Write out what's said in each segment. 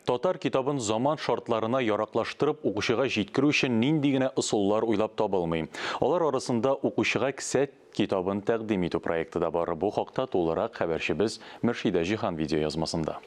Татар китабын заман шартларына яраклаштырып укучыга җиткерү өчен нинди генә ысуллар уйлап табылмый. Алар арасында укучыга ксә китабын тәкъдим итү проекты да бар. Бу хакта тулырак хәбәрчебез Мөршидә Җиһан видеоязмасында.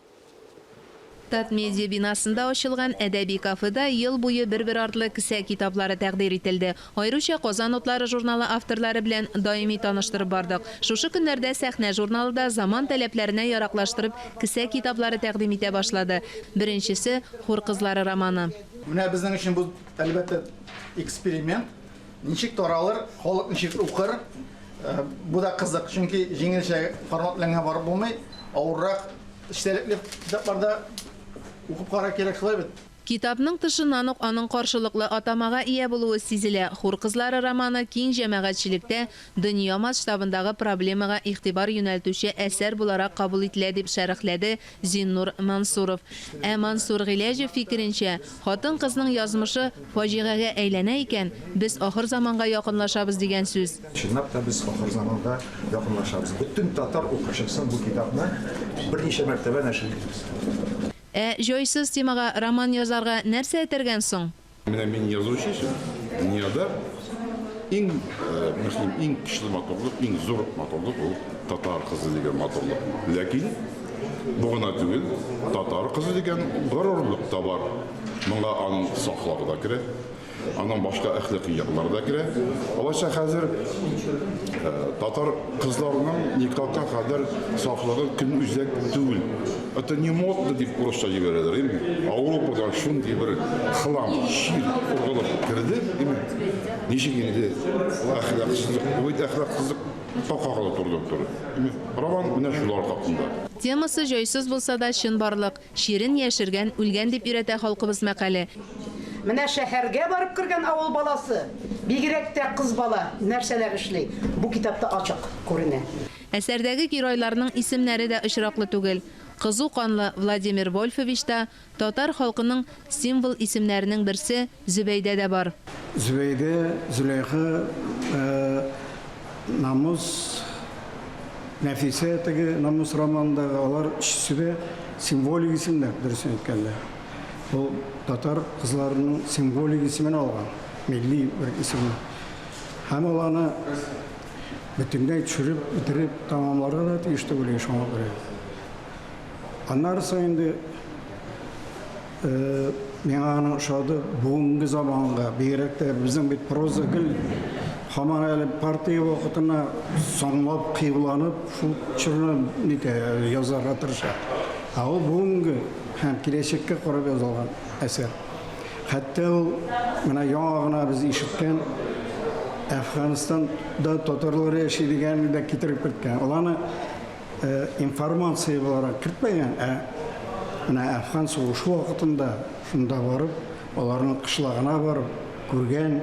Татмедиа бинасында ачылган әдәби кафеда ел буе бер-бер артлы ксә китаплары тәкъдир ителде. Аеруча Казан утлары журналы авторлары белән даими таныштырып бардык. Шушы көннәрдә Сәхнә журналы да заман таләпләренә яраклаштырып кесә китаплары тәкъдим итә башлады. Беренчесе, Хур кызлары романы. Менә безнең өчен бу, әлбәттә, эксперимент. Ничек таралыр, халык ничек укыр? Бу да кызык, чөнки җиңелчә формат белән генә барып булмый, авыррак, эчтәлекле китаплар да укып карарга кирәк, шулай бит? Китапның тышыннан ук аның каршылыклы атамага ия булуы сизелә, Хур кызлары романы киң җәмәгатьчелектә дөнья масштабындагы проблемага игътибар юнәлтүче әсәр буларак кабул ителә, дип шәрехләде Зиннур Мансуров. Ә Мансур Гыйләҗев фикеренчә, хатын-кызның язмышы фаҗигагә әйләнә икән, без ахырзаманга якынлашабыз дигән сүз. Чынлап та без ахырзаманга якынлашабыз. Бөтен татар укучысын бу китапны берничә мәртәбә нәшер итегез. Ә җайсыз темага роман язарга нәрсә этәргән соң? Менә мин язучы өчен дөньяда иң мөһим, иң көчле матурлык, иң зур матурлык ул татар кызы дигән матурлык. Ләкин бу гына түгел, татар кызы дигән горурлык та бар. Моңа аны саклау да керә. Аннан башка әхлакый яклар да керә. Алайса хәзер э, татар кызларының никакка кадәр сафлыгы көн үзәк түгел. Это не модно дип урысча җибәрәләр. Инде Ауропадан шундый бер хлам, шир ургылып керде. Инде ничек инде әхлаксызлык, бу әхлаксызлык какага туры туры. Роман менә шулар хакында. Темасы җайсыз булса да чын барлык. Чирен яшергән, үлгән дип өйрәтә халкыбыз мәкале. Менә шәһәргә барып кергән авыл баласы, бигрәк тә кыз бала, нәрсәләр эшли, бу китапта ачык күренә. Әсәрдәге геройларның исемнәре дә очраклы түгел. Кызу канлы Владимир Вольфович та татар халкының символ исемнәренең берсе, Зөбәйдә дә бар. Зөбәйдә, Зөләйха, Намус, Нәфисә, теге Намус романындагы, алар өчесе дә символик исемнәр, дөресен әйткәндә. Ул татар кызларының символик исемен алган, милли бер исемен. Һәм ул аны бөтенләй төшереп бетереп тәмамларга да тиеш түгел иде шуңа күрә. Аннарысы инде. Миңа аның ошады. Бүгенге заманга, бигрәк тә безнең бит проза гел һаман әле партия вакытына соңлап кыюланып, шул чорны нитә, язарга тырыша. Ә ул бүгенге һәм киләчәккә карап язылган әсәр. Хәтта ул менә яңа гына без ишеткән Әфганстанда татарлар яши дигәнне дә китереп керткән. Ул аны информация буларак кертмәгән, ә менә Әфган сугышы вакытында шунда барып, аларның кышлагына барып күргән,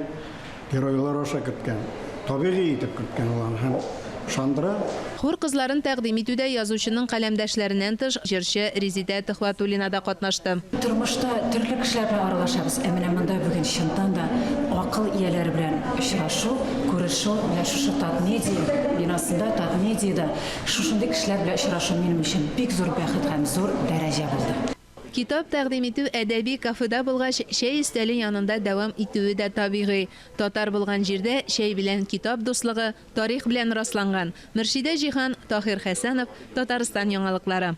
геройлар аша киткән. Табигый итеп киткән ул аны һәм ышандыра. Хор кызларын тәкъдим итүдә язучының каләмдәшләреннән тыш, җырчы Резидә Төхвәтуллина да катнашты. Тормышта төрле кешеләр белән аралашабыз, ә менә монда бүген чынтан да акыл ияләре белән очрашу, Күрешү менә шушы Татмедиа бинасында, Татмедиада шушындый кешеләр белән очрашу минем өчен бик зур бәхет һәм зур дәрәҗә булды. Китап тәкъдим итү әдәби кафеда булгач, чәй өстәле янында дәвам итүе дә табигый. Татар булган җирдә чәй белән китап дуслыгы тарих белән расланган. Мөршидә Җиһан, Таһир Хәсәнов, Татарстан яңалыклары.